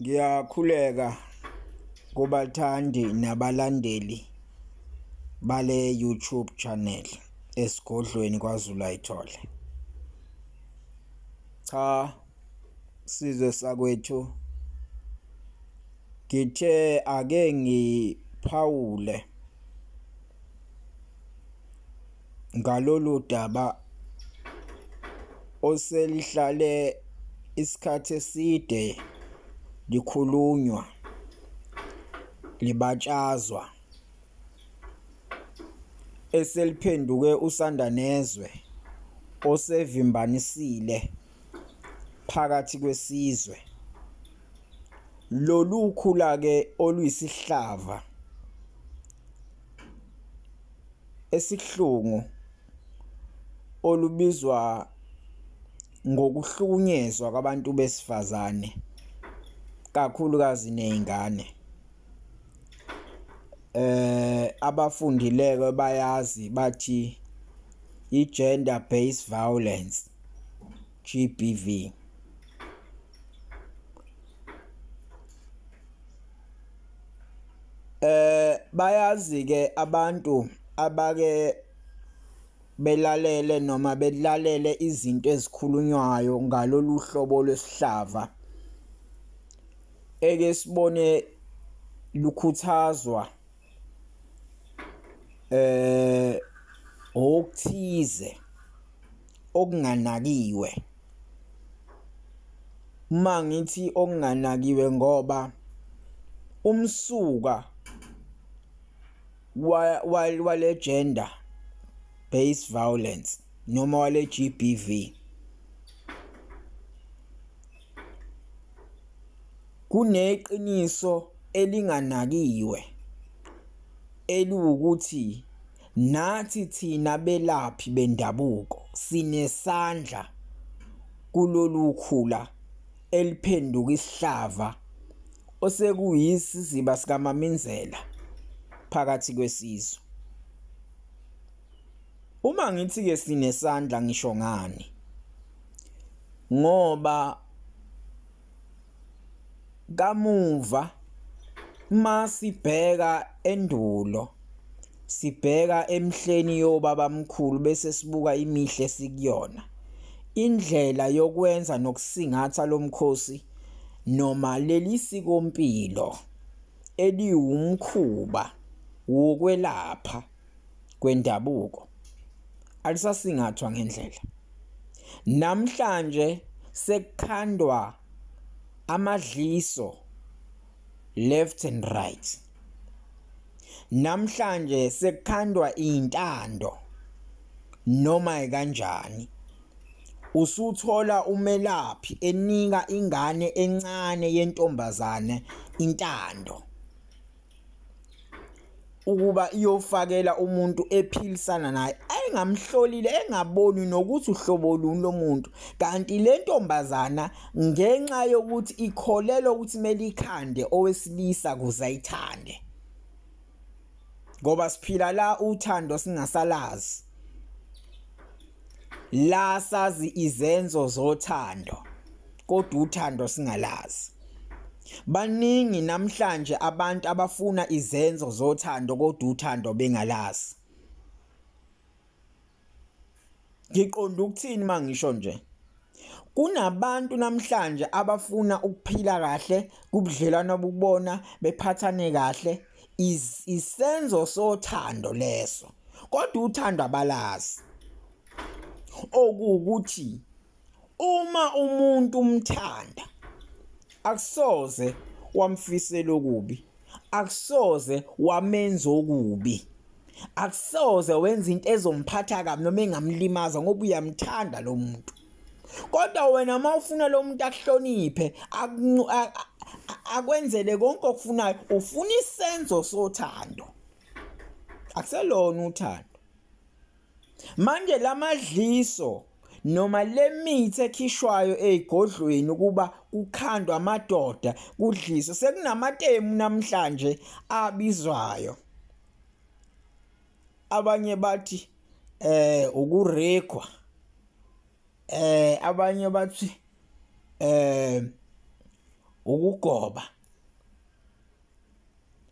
Ngiyakhuleka kubathandi nabalandeli bale YouTube channel esigodlweni kwaZulu ayithole. Cha sizwe sakwethu ngithe ake ngiphawule ngalolu daba oselihlale isikhathi eside likhulunywa libatshazwa eseliphenduke usandanezwe osevimbanisile phakathi kwesizwe lolu khula ke oluyisihlava esihlungu olubizwa ngokuhlukunyezwa kwabantu besifazane kakhulukazi nezingane eh abafundileke bayazi bathi i gender based violence GBV eh bayazi ke abantu abake belalele noma belalele izinto ezikhulunywayo ngalolu hlobo lwesihlava eke sibone lukhuthazwa eh okuthize okunganakiwe uma ngithi okunganakiwe ngoba umsuka wale gender based violence noma wale GBV Kuneqiniso elinganakiwe eliwukuthi nathi thina belaphi bendabuko sinesandla kulolu khula eliphenduka isihlava osekuyisiziba sikaMaminzela phakathi kwesizwe. Uma ngithi ke sinesandla ngisho ngani ngoba kamuva uma sibheka endulo sibheka emhleni yobaba mkhulu bese sibuka imihle sikuyona indlela yokwenza nokusingatha lomkhosi noma leli sikompilo eliwumkhuba wokwelapha kwendabuko alisasingathwa ngendlela namhlanje sekukhandwa amadliso left and right namhlanje sekukhandwa intando noma kanjani usuthola umelaphi enika ingane encane yentombazane intando ukuba iyofakela umuntu ephilisana naye engamhlolile engaboni nokuthi uhlobo luni lomuntu kanti le ntombazana ngenxa yokuthi ikholelwa ukuthi melikhande owesilisa kuze ayithande ngoba siphila la uthando singasalazi la sazi izenzo zothando kodwa uthando singalazi baningi namhlanje abantu abafuna izenzo zothando kodwa uthando bengalazi ngiqonda ukuthini mangisho nje Kunabantu namhlanje abafuna ukuphila kahle kubudlelwano obubona bephathane kahle isenzo sothando leso kodwa uthando abalazi okuwukuthi uma umuntu umthanda akusoze wamfisela okubi akusoze wamenza okubi akusoze wenza into ezomphatha kabi noma engamlimaza ngoba uyamthanda lo muntu kodwa wena uma ufuna lo muntu akuhloniphe akwenzele konke okufunayo ufuna isenzo sothando akuselona uthando Manje lamadliso noma lemithi ekhishwayo ezigodlweni kuba kukhandwa amadoda kudliso sekunamatemu namhlanje abizwayo abanye bathi eh ukurekwa eh abanye bathi eh ukugoba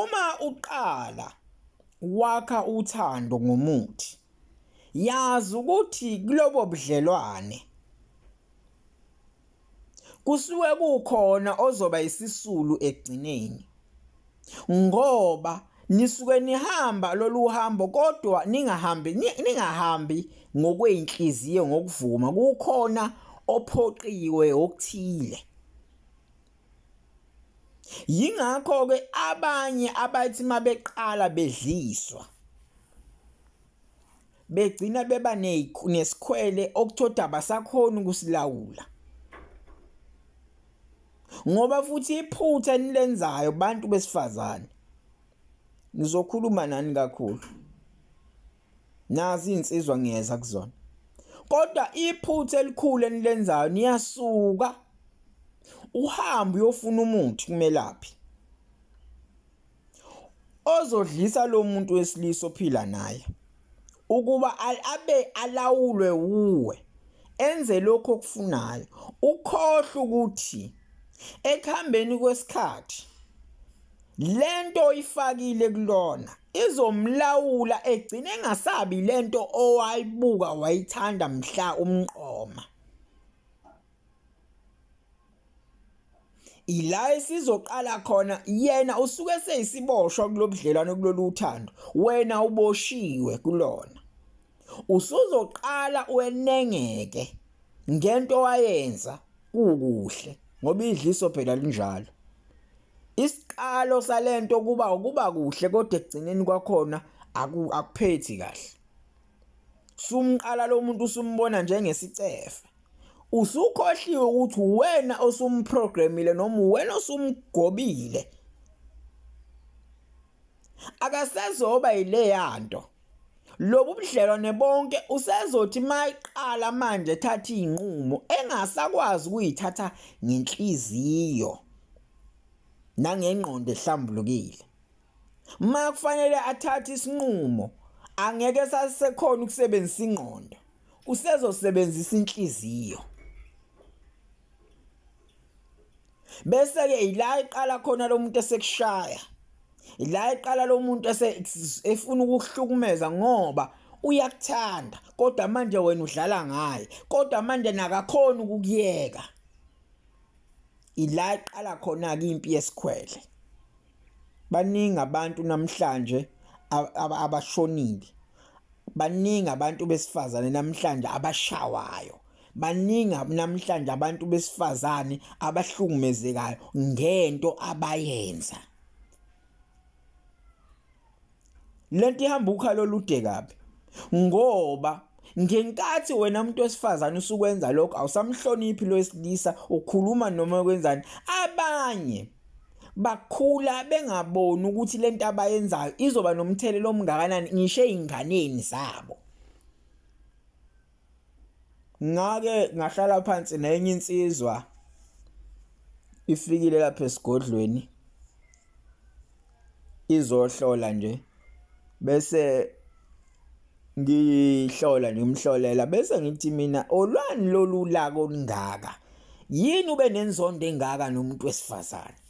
Uma uqala wakha uthando ngomuthi yazi ukuthi kulobo budlelwane kusuke kukhona ozoba isisulu ekugcineni ngoba nisuke nihamba lolu hambo kodwa ningahambi ningahambi ngokweyinhliziyo ngokuvuma kukhona ophoqiwe okuthile yingakho ke abanye abathi mabeqala bedliswa begcina beba nesikhwele okuthoda abasakhona ukusilawula ngoba futhi iphutha enilenzayo bantu besifazane ngizokhuluma nani kakhulu nazi insizwa ngiyeza kuzona kodwa iphutha elikhulu enilenzayo niyasuka uhamba uyofuna umuthi kumelaphi ozodlisa lo muntu wesilisa ophila naye ukuba abe alawulwe wuwe enze lokho okufunayo ukhohle ukuthi ekuhambeni kwesikhathi lento oyifakile kulona izomlawula egcine engasabi lento owayibuka wayithanda mhla umqoma ila esizoqala khona yena usuke seyisiboshwa kulobudlelwano kulolu uthando wena uboshiwe kulona usuzoqala wenengeke ngento wayenza kukuhle ngoba idliso phela linjalo isiqalo salento kuba ukuba kuhle kodwa ekugcineni kwakhona akuphethi kahle sumqala lo muntu usumbona njengesicefe usukhohliwe ukuthi wena osumprogramile noma wena osumgobile akasezoba yileyanto lobu budlelwane bonke usezothi mayiqala manje ethatha izinqumo engasakwazi ukuyithatha ngenhliziyo nangengqondo ehlambulukile ma kufanele athathe isinqumo angeke sasekhona ukusebenzisa ingqondo usezosebenzisa inhliziyo bese ke ila iqala khona lo muntu esekushaya ila iqala lo muntu efuna ukuhlukumeza ngoba uyakuthanda kodwa manje wena udlala ngaye kodwa manje nakakhona ukukuyeka ila iqala khona ke impi yesikhwele baningi abantu namhlanje abashonile baningi abantu besifazane namhlanje abashawayo baningi namhlanje abantu besifazane abahlukumezekayo ngento abayenza lento ihamba ukhalo olude kabi ngoba ngenkathi wena umuntu wesifazane usukwenza lokho awusamhloniphi lo wesilisa ukhuluma noma kwenzani abanye bakhula bengaboni ukuthi lento abayenzayo izoba nomthelelo omngakanani ngisho ezinganeni zabo ngake ngahlala phansi nenye insizwa ifikile lapha esigodlweni izohlola nje bese ngihlola ngimhlolela bese ngithi mina olwani lolu lako olungaka yini ube nenzondo engaka nomuntu wesifazane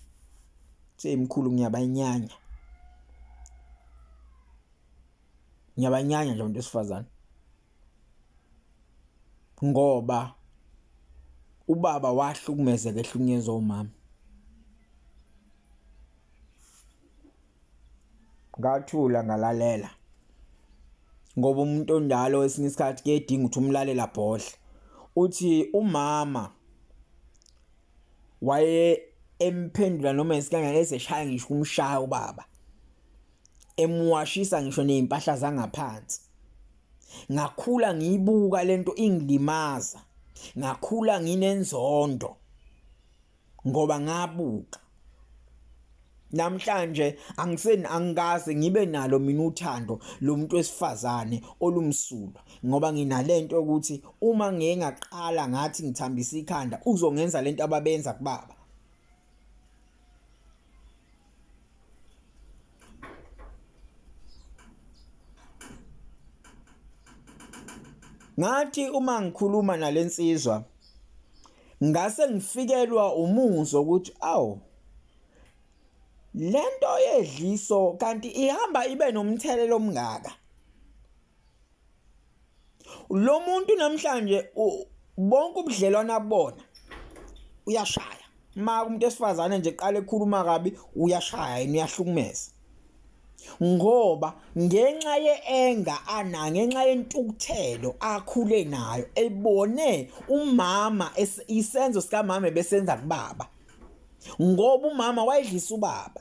seyimkhulu ngiyabanyanya ngiyabanyanya nje umuntu wesifazane ngoba ubaba wahlukumezeka ehlukunyezwa umama ngathula ngalalela ngoba umuntu onjalo esinye isikhathi kuyedinga ukuthi umlalela bhodle uthi umama waye emphendula noma isikangane eseshaya ngisho umshaya ubaba emuwashisa ngisho nezimpahla zangaphansi ngakhula ngiyibuka lento ingilimaza ngakhula nginenzondo ngoba ngabuka namhlanje angiseni angikaze ngibe nalo mina uthando lomuntu wesifazane olumsulwa ngoba nginalento ukuthi uma ngeke ngaqala ngathi ngithambisa ikhanda uzongenza lento ababenza kubaba ngathi uma ngikhuluma nalensizwa ngase ngifikelwa umuzwa ukuthi awu lento yedliso kanti ihamba ibe nomthelelo omngaka lo muntu namhlanje bonke ubudlelwane abona uyashaya ma umuntu esifazane nje qale ekhuluma kabi uyashaya yini uyahlukumeza ngoba ngenxa yeenga ana ngenxa yentukuthelo akhule nayo ebone umama isenzo sikamama besenza kubaba ngoba umama wayedlisa ubaba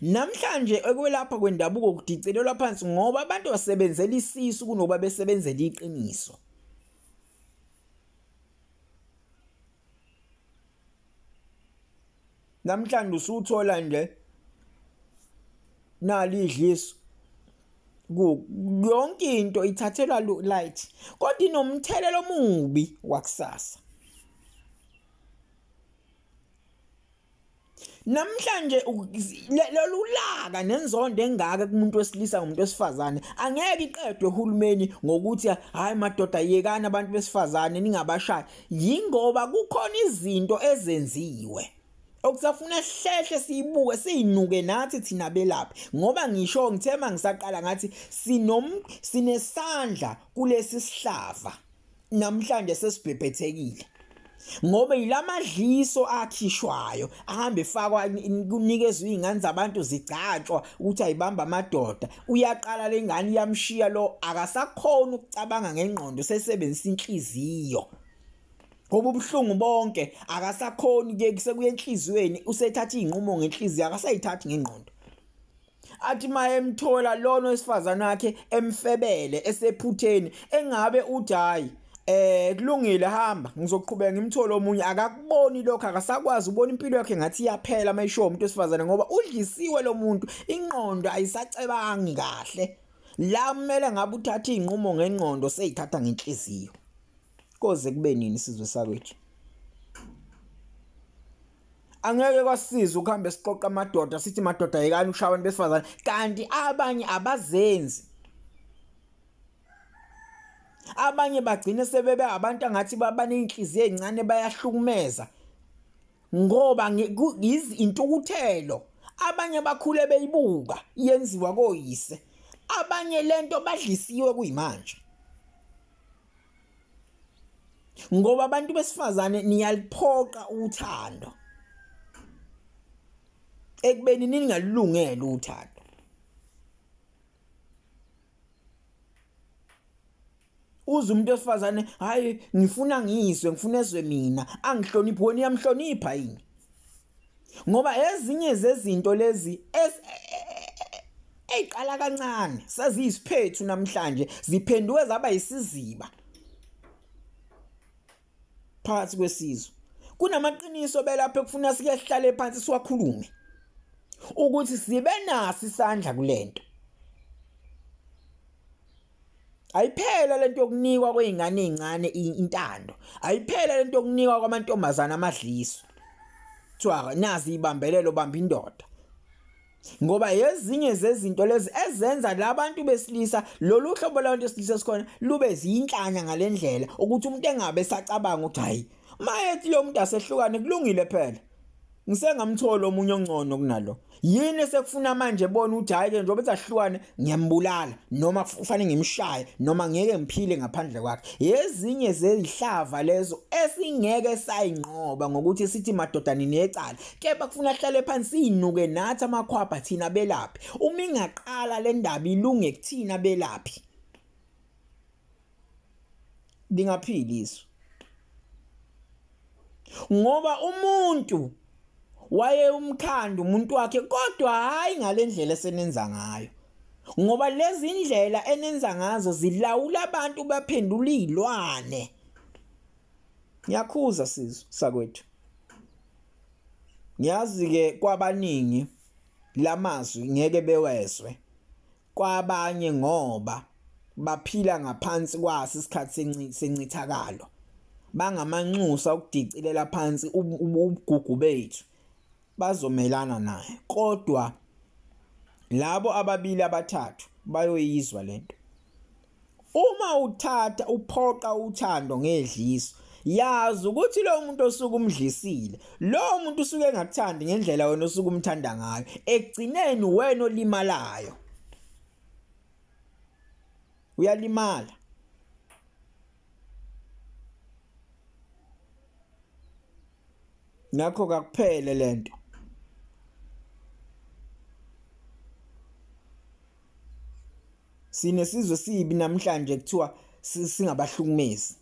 Namhlanje ekwelapha kwendabuko kudicelelwa phansi ngoba abantu basebenzela isisu kunoba besebenzela iqiniso. Namhlanje usuthola nje nali idliso yonke into ithathelwa light kodwa inomthelelo omubi wakusasa namhlanje lolulaka nenzondo engaka kumuntu wesilisa ngomuntu wesifazane angeke iqedwe uhulumeni ngokuthi hayi madoda yekani abantu besifazane ningabashaya yingoba kukhona izinto ezenziwe okusafuna hlehle siyibuke siyinuke nathi thina belaphi ngoba ngisho ngithema ngisaqala ngathi sinom sinesandla kulesi sihlava namhlanje sesibhebhethekile ngoba yilamadliso akhishwayo ahambe efakwa kunikezwe izingane zabantu zigcatshwa ukuthi ayibamba amadoda uyaqala lengane iyamshiya lo akasakhona ukucabanga ngengqondo sesebenzisa inhliziyo ngoba ubuhlungu bonke akasakhoni ke kusekuye enhliziyweni usethatha izinqumo ngenhliziyo akasayithathi ngengqondo athi mayemthola lona wesifazana wakhe emfebele esephutheni engabe uthi hayi eh kulungile hamba ngizoqhubeka ngimthole omunye akakuboni lokho akasakwazi ubona impilo yakhe ngathi iyaphela mayisho umuntu wesifazane ngoba udlisiwe lo muntu inqondo ayisacebangi kahle la kumele ngabe uthatha izinqumo ngenqondo seyithatha ngenhliziyo koze kube nini sizwe sakwethu angeke kwasiza ukuhamba siqoqa amadoda sithi madoda yekani ushaya abantu besifazane kanti abanye abazenzi abanye bagcine sebebe abantu angathi babanenhliziyo ezincane bayahlukumeza ngoba intukuthelo abanye bakhule beyibuka yenziwa koyise abanye lento badlisiwe kuyimanje ngoba abantu besifazane niyaliphoqa uthando ekubeni ningalungele uthando uze umuntu wesifazane hayi ngifuna ngizwe ngifuna ezwe mina angihloniphi wena uyamhlonipha yini ngoba ezinye zezinto lezi eyiqala kancane seziyisiphethu namhlanje ziphenduke zaba isiziba phakathi kwesizwe kunamaqiniso belapha ekufuna sike sihlale phansi siwakhulume ukuthi sibe naso isandla kulento ayiphele lento yokunikwa kweingane ezincane intando ayiphele lento yokunikwa kwamantombazana amadliso kuthiwa nazi ibambelelo bamba indoda ngoba yezinye zezinto lezi ezenza labantu besilisa lolu hlobo labantu besilisa sikhona lube ziyinhlanya ngalendlela ukuthi umuntu engabe sacabanga ukuthi hayi mayethi lo muntu asehlukane kulungile phela ngisengamthola omunye ongcono kunalo yini esekufuna manje bona ukuthi hayi ke njengoba ezahlukane ngiyambulala noma kufanele ngimshaye noma ngeke ngiphile ngaphandle kwakhe yezinye zezihlava lezo esingeke sayinqoba ngokuthi sithi madoda ninecala kepha kufuna ahlale phansi sinuke nathi amakhwapha thina belaphi uma ingaqala le ndaba ilunge kuthina belaphi lingaphili isu ngoba umuntu waye umkhanda umuntu wakhe kodwa hayi ngalendlela esenenza ngayo ngoba lezi ndlela enenza ngazo zilawula abantu baphendula izilwane ngiyakhuza sizwe sakwethu ngiyazi ke kwabaningi lamazwi ngeke bewezwe kwabanye ngoba baphila ngaphansi kwaso isikhathi sencithakalo bangamanxusa ukudicilela phansi ubugugu bethu bazomelana naye kodwa labo ababili abathathu bayoyizwa lento Uma uthatha uphoqa uthando ngedliso yazi ukuthi lo muntu osuke umdlisile lo muntu usuke engakuthandi ngendlela wena osuke umthanda ngayo ekugcineni wena olimalayo uyalimala ngakho kakuphele lento sinesizwe sibi namhlanje kuthiwa singabahlukumezi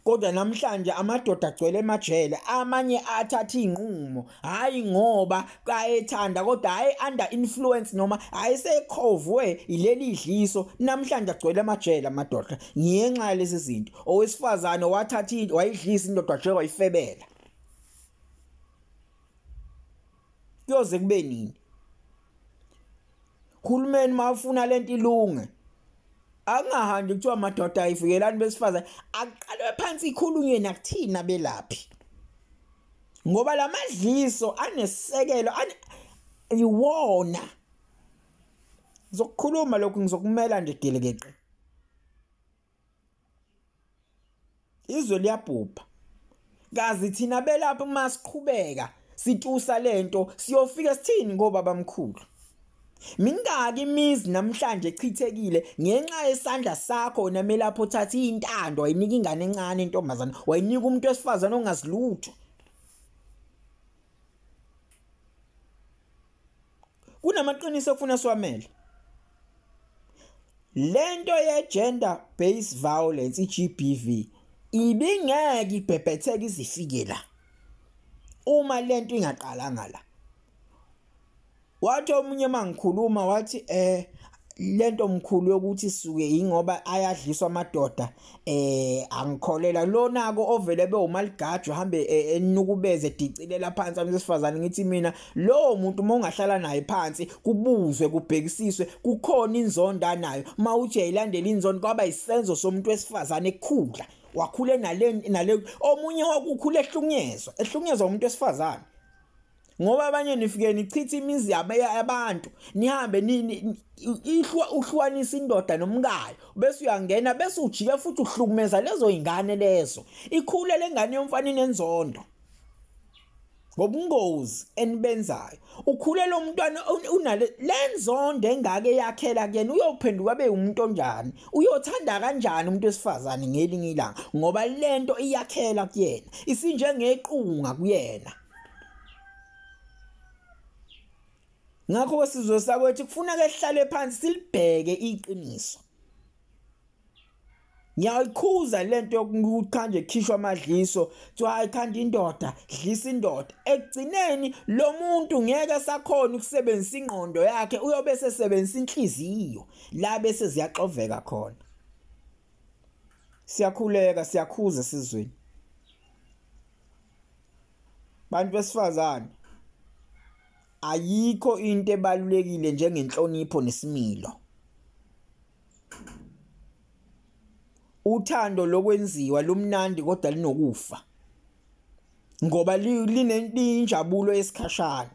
kodwa namhlanje amadoda agcwele emajele amanye athatha izinqumo hayi ngoba ayethanda kodwa hayi under influence noma ayisekhovwe ileli idliso namhlanje agcwele emajele amadoda ngenxa yalezi zinto owesifazane wathatha wayidlisa indoda nje wayifebela kuyoze kube nini uhulumeni mawufuna lento ilunge akungahambi kuthiwa madoda ayivikelani besifazane akuqalwe phansi ikhulunywe nakuthina belaphi ngoba lamadliso anesekelo iwona ngizokukhuluma lokhu ngizokumela nje gelekeqe izwe liyabhubha kazi thina belapha uma siqhubeka situsa lento siyofika sithini ngobaba mkhulu Mingaki imizi namhlanje echithekile ngenxa yesandla sakho wena melapho uthatha intando wayinika ingane encane intombazana wayinika umuntu wesifazana ongazilutho kunamaqiniso okufuna siwamele lento ye gender based violence iGBV ibingeke ibhebhetheke izifike la uma lento ingaqalanga la wathi omunye mangikhuluma wathi eh lento mkhulu yokuthi suke ingoba ayadliswa amadoda eh angikholela lona ko ovele bewumaligajwa hambe e, enukubeze edicilela phansi abesifazane ngithi mina lo muntu uma ungahlala naye phansi kubuzwe kubhekisiswe kukhona inzondo anayo uma uje ilandela inzondo kwaba isenzo somuntu wesifazane ekukhula wakhule nale nale omunye wakukhula ehlunyezwa ehlunyezwa umuntu wesifazane ngoba abanye nifike nichitha imizi yabantu nihambe ihlwa uhlukanisa indoda nomkayo bese uyangena bese ujike futhi uhlukumeza lezo ingane lezo ikhule lengane yomfana inenzondo ngobungozi enibenzayo ukhulela umntwana unale lenzondo engake yakhela kuyena uyophenduka abe umuntu onjani uyothanda kanjani umuntu wesifazane ngelinye ilanga ngoba lento iyakhela kuyena isinjengequnga kuyena ngakho kwesizwe sakwethu kufuneka ehlale phansi silibheke iqiniso ngiyayikhuza lento yokuthanda ekhishwa amadliso kuthiwa hayi khanda indoda dlisa indoda ekugcineni lo muntu ngeke sakhona ukusebenzisa ingqondo yakhe uyobe sesebenzisa inhliziyo la bese ziyaxoveka khona siyakhuleka siyakhuza sizweni bantu besifazane ayikho into ebalulekile njengenhlonipho nesimilo uthando lokwenziwa lumnandi kodwa linokufa ngoba linenjabulo esikhashana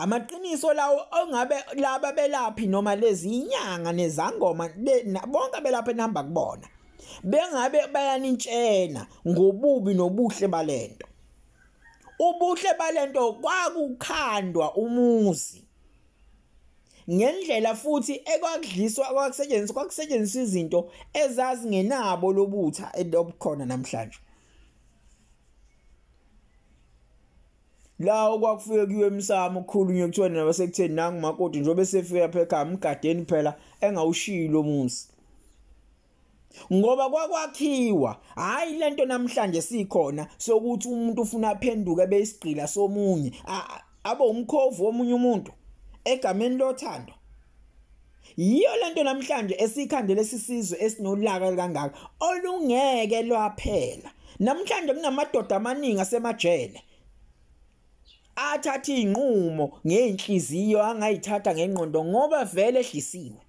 amaqiniso lawo ongabe laba belaphi noma lezinyanga nezangoma bonke belapha enamba kubona bengabe bayanintshena ngobubi nobuhle balento ubuhle balento kwakukhandwa umuzi ngendlela futhi ekwakudliswa kwakusetshenziswa kwakusetshenziswa izinto ezazingenabo lobutha elobukhona namhlanje la okwakufike kuyiwe emsamo ukukhulunywa kuthiwa nina basekutheni nangu makoti njengoba esefike lapha ekhaya mgadeni phela engawushiyi lo muzi ngoba kwakwakhiwa hayi lento namhlanje sikhona sokuthi umuntu ufuna aphenduke beyisigqila somunye abe umkhovu womunye umuntu egameni lothando Yiyo lento namhlanje esikhandele sisizwe esinolaka kangaka olungeke lwaphela. Namhlanje kunamadoda amaningi asemajele athatha izinqumo ngeenhliziyo angayithatha ngengqondo ngoba vele ehlisiwe.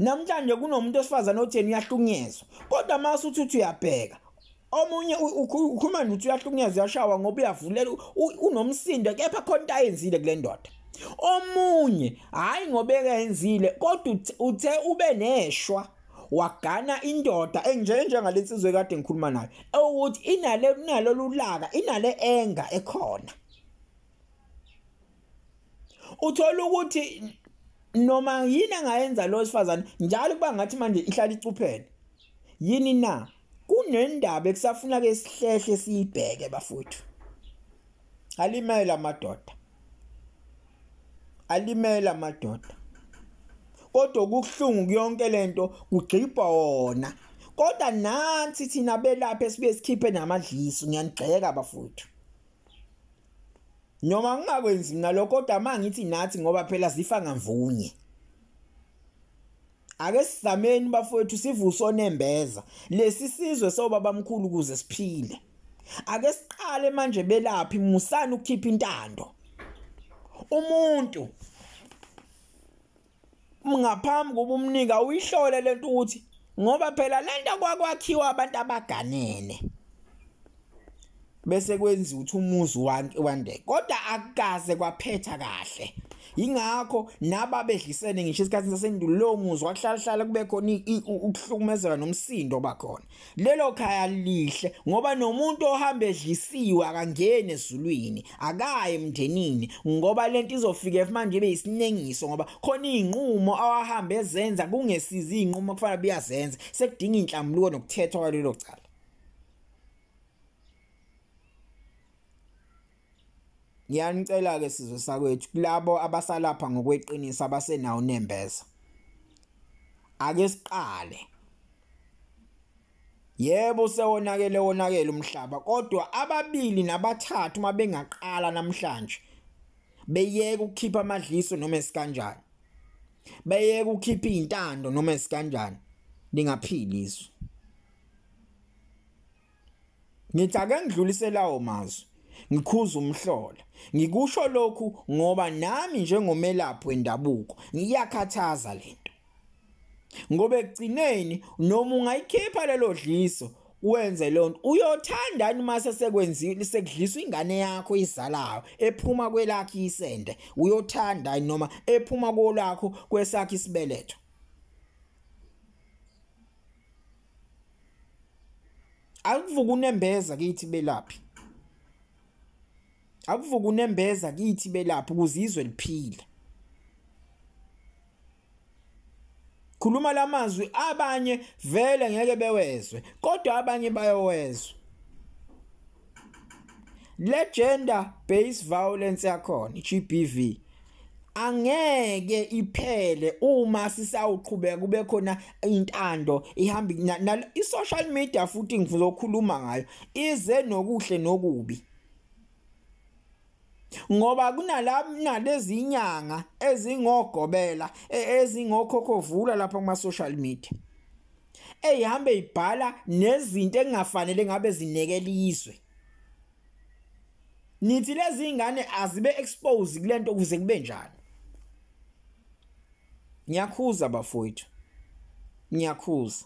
namhlanje kunomuntu osifazane otheni uyahlukunyezwa kodwa uma usuthi uthi uyabheka omunye ukhuluma nje ukuthi uyahlukunyezwa uyashawa ngoba uyavulela unomsindo kepha khona into ayenzile kule ndoda omunye hhayi ngoba ekenzile kodwa uthe ube neshwa wagana indoda enjenjengale nsizwe kade ngikhuluma nayo ewukuthi inale inalolulaka inale enga ekhona uthola ukuthi noma yini angayenza lo sifazane njalo kuba ngathi manje ihlala icuphene yini na kunendaba ekusafuna ke sihlehle siyibheke bafuthu alimela amadoda alimela amadoda kodwa kuhlungu kuyonke lento kugcibha wona kodwa nansi thina belapha esibe sikhiphe namadliso ngiyanigxeka bafuthu noma ngingakwenzi mina lokho kodwa mangithi nathi ngoba phela sifa ngamvunye ake sizameni bafowethu sivuse onembeza lesi sizwe sobaba mkhulu kuze siphile ake siqale manje belaphi musani ukukhipha intando umuntu ngaphambi kuba umnika uyihlole lento ukuthi ngoba phela lento kwakwakhiwa abantu abaganene bese kwenziwa ukuthi umuzi wande kodwa akukaze kwaphetha kahle ingakho naba bedlisene ngisho isikhathi sasendulo muzi wakuhlalahlala kube khona ukuhlukumezeka nomsindo bakhona Lelo khaya lihle ngoba nomuntu ohamba edlisiwe akangene ezulwini akaye emndenini ngoba lento izofika manje ibe isinengiso ngoba khona izinqumo awahamba ezenza kungesizi izinqumo kufanele buyazenza sekudinga inhlambuluko nokuthethwa kwalelo cala Ngiyanicela ke sizwe sakwethu kulabo abasalapha ngokweqiniso abasenawo nembeza. Ake siqale. Yebo sewonakele wonakele umhlaba kodwa ababili nabathathu uma bengaqala namhlanje beyeke ukukhipha amadliso noma esikanjani. Beyeke ukukhipha izintando noma esikanjani. Ningaphili izwe. Ngithi ake ngidlulise lawo mazwi ngikhuza umhlola ngikusho lokhu ngoba nami njengomelaphi wendabuko ngiyakhathaza lento ngoba ekugcineni noma ungayikhipha lelo dliso wenze lonto uyothandani uma sesekwenzile sekudliswa ingane yakho izalayo ephuma kwelakhe isende uyothandani noma ephuma kolakho kwesakhe isibeletho akuvuka unembeza kithi belaphi akuvuka unembeza kithi belaphi ukuze izwe liphile khuluma lamazwi abanye vele ngeke bewezwe kodwa abanye bayowezwa le gender based violence yakhona GBV angeke iphele uma sisawuqhubeka kube khona intando ihamba i-social media futhi ngizokhuluma ngayo ize nokuhle nokubi ngoba kunalezi inyanga ezingogobela e, ezingokhokhovula lapha kuma social media eyihambe ibhala nezinto engafanele ngabe zinekela izwe nithi lezi ingane azibe expose kulento kuze kube njani ngiyakhuza bafowethu ngiyakhuza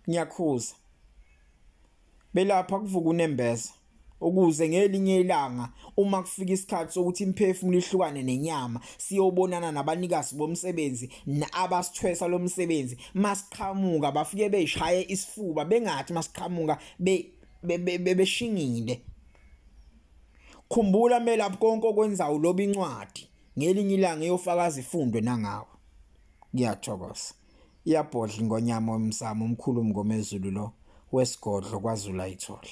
ngiyakhuza belapha kuvuka unembeza ukuze ngelinye ilanga uma kufika isikhathi sokuthi imphefumulo ihlukane nenyama siyobonana nabanikazi bomsebenzi abasithwesa lomsebenzi masiqhamuka bafike beshaye isifuba bengathi masiqhamuka be bebeshingile khumbula melaphi konke okwenzayo loba incwadi ngelinye ilanga eyofakaza ifundwe nangawe ngiyathokoza Iyabhodla ingonyama omsamo omkhulu umngomezulu lo wesigodlo kwaZulu ayithole.